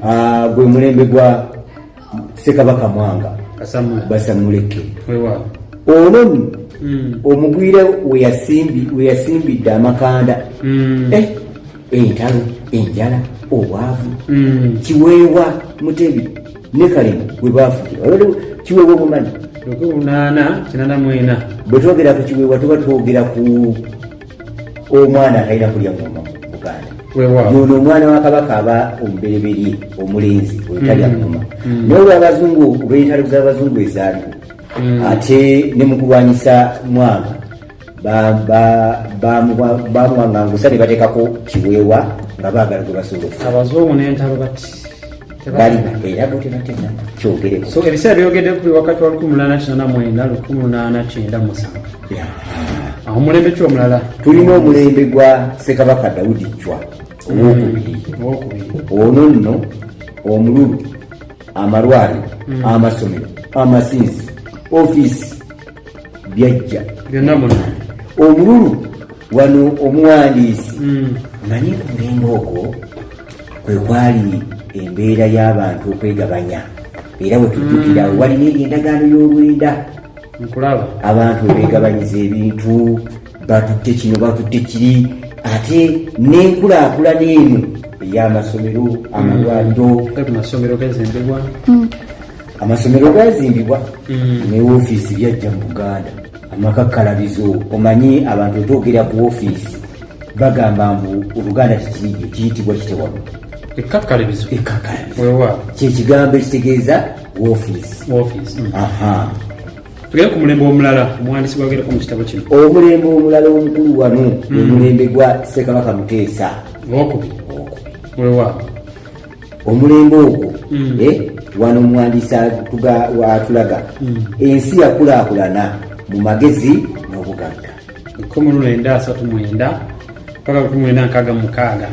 Ah, gwe mulembe gwa sekabaka mwanga basamuleke ono hmm. omugwira weyasimbidde amakanda hmm. eh, entalo enjala obwavu hmm. kiweewa mutebi ne kale bwe baafukira olwo kiweebwa obumanyi lunaana kinana mwena bwe twogera ku kiweebwa tuba twogera ku omwana atalina kulya ngoma buganda yono omwana wa kabaka aba omubereberye omulenzi oyotalya mm. ngoma mm. naye olwabazungu olweyitalo z'abazungu ezaaliwo mm. ate ne mu kulwanyisa mwanga bamuwangangusa ne bateekako kiweewa nga baagala gwe basolofu abazungu n'entalo bati balina era bo tebatera kyogereko so ebiseera byogedde kuli wakati wa 1899 awo mulembe ki omulala tulina omulembe gwa sekabaka dawudi cwa owokubiri ono nno omululu amalwaliro mm. amasomero amasinzi ofiisi byajja byonna muno omululu wano omuwandiisi mm. manyi kulinga okwo kwe kwali embeera y'abantu okwegabanya era wetujjukira mm. walina eyo endagaano y'olwenda abantu webegabanyiza ebintu batutte kino batutte kiri ate n'enkulaakulana eno ey'amasomero amalwaliro amasomero gazimbibwa hmm. amasomero gazimbibwa hmm. ne ofiisi byajja mu buganda amakakkalabizo omanyi abantu otoogera ku ofiisi bagamba mbu oluganda kikirige kiyitibwa kitewalo ekkakkalabizo ekkakkalabizo kyekigambo ekitegeeza ofiisi hmm. tugere ku mulembe omulala omuwandiisi gwagerako mu kitabo kino omulembe omulala omukulu wano hmm. omulembe gwa ssekabaka muteesa owokubi wewa omulembe ogwo hmm. eh, wano omuwandiisi atulaga hmm. ensi yakulakulana mu magezi n'obugagga ekumi lwenda asatu mwenda paka kumi mwenda nkaga mukaaga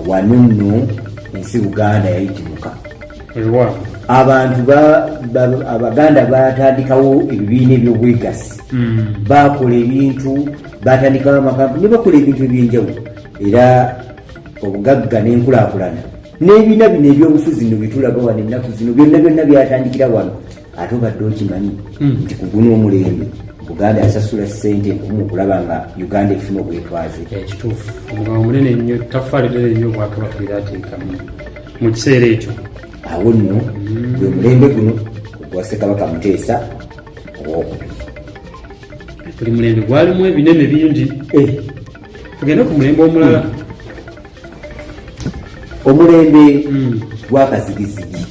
wano nno ensi buganda yayitimuka abantu abaganda batandikawo ebibiina ebyobwegasi hmm. bakola ebintu batandikawo amakampuni nebakola ebintu ebyenjawulo era obugagga nenkulakulana n'ebina bino ebyobufuzi no byetulaga wano ennaku zino byonna byonna byatandikira wano ate obadde okimanyi hmm. nti kuguna omulembe buganda yasasula sente nkumu okulaba nga uganda efuna obwetwaze ekituufu omugambo munene nnyo tafaali lere nnyo obwakabaka era ateekamu mu kiseera ekyo awo nno hmm. gwe mulembe guno ogwa sekabaka muteesa owokubiri buli mulembe gwalimu ebinene bingi eh. tugende ku mulembe omulala hmm. omulembe hmm. gwakazigizigi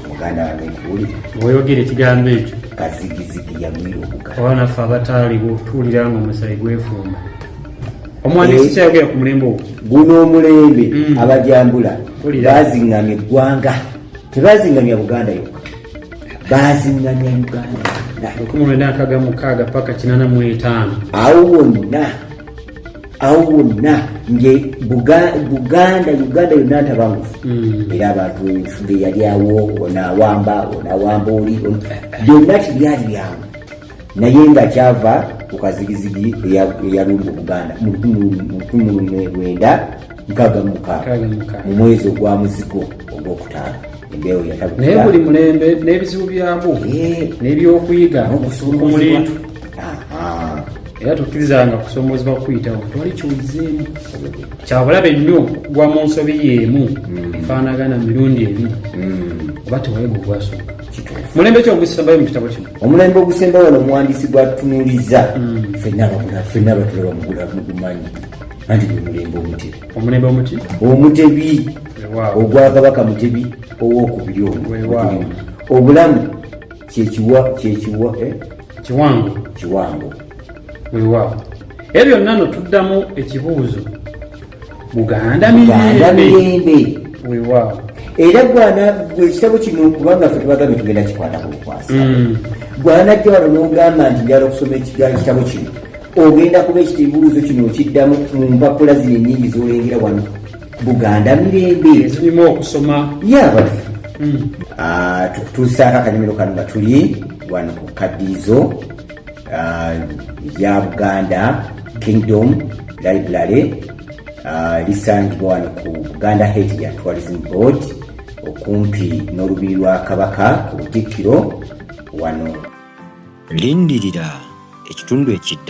muganda wange nkuli oyogera ekigambo ekyo kazigizigi yagwira obuga oba naffe abataaliwo tuwulira nga omusayi gwefumba omuwandiisi eh, kyayogera ku mulembe ogwo guno omulembe hmm. abajambula bazingamya eggwanga tebazingamya buganda yokka bazingamya uganda lukumi lwenda nkaga mukaaga paka kinana mu etaano awo wonna awo wonna nge buganda uganda yonna ntabangufu hmm. era abantu ebifuga eyali awo onawamba onawamba oli byonna tibyali byangu naye nga kyava ku kazigizigi eyalumba obuganda mu lukumi lumwe lwenda nkaga mukaaga mu mwezi ogwa muzigo ogwokutaano embeewo yatabu naye buli mulembe n'ebizibu byabwo eh. n'ebyokuyiga ku mulindu era tukkirizanga kusomoozebwa kukuyitawo twali kiwulizeemu kyabulabe nnyo gwa mu nsobi yeemu mm. efaanagana mirundi emu mm. oba tewayega ogwasooka mulembe ki ogusembayo mu kitabo kino omulembe ogusembayo wano omuwandiisi gwatunuliza mm. fenna abatulaba mugumanyi anti gwe mulembe omuti omulembe omuti omutebi ogwakabaka mutebi owokubiri omu obulamu kyekiwa kyekiwa eh? kiwango kiwango wewaawo ebyo byonna no tuddamu ekibuuzo buganda mirembe wewaawo era gwana ekitabo kino kubanga fe tubagambye tugenda kikwata ku bukwasi mm. gwanajja wano nogamba nti njala okusoma ekitabo kino ogenda kuba ekitibuuzo kino okiddamu mu mpapula zino enyingi zolengera wano buganda mirembe zirimu okusoma yabaffe hmm. ah, tukutuusaako akanyumiro kano nga tuli wano ku kadiizo ah, ya buganda kingdom library ah, lisangibwa wano ku buganda head ya tourism board okumpi n'olubiri lwa kabaka ku butikkiro wano lindirira ekitundu ekiddako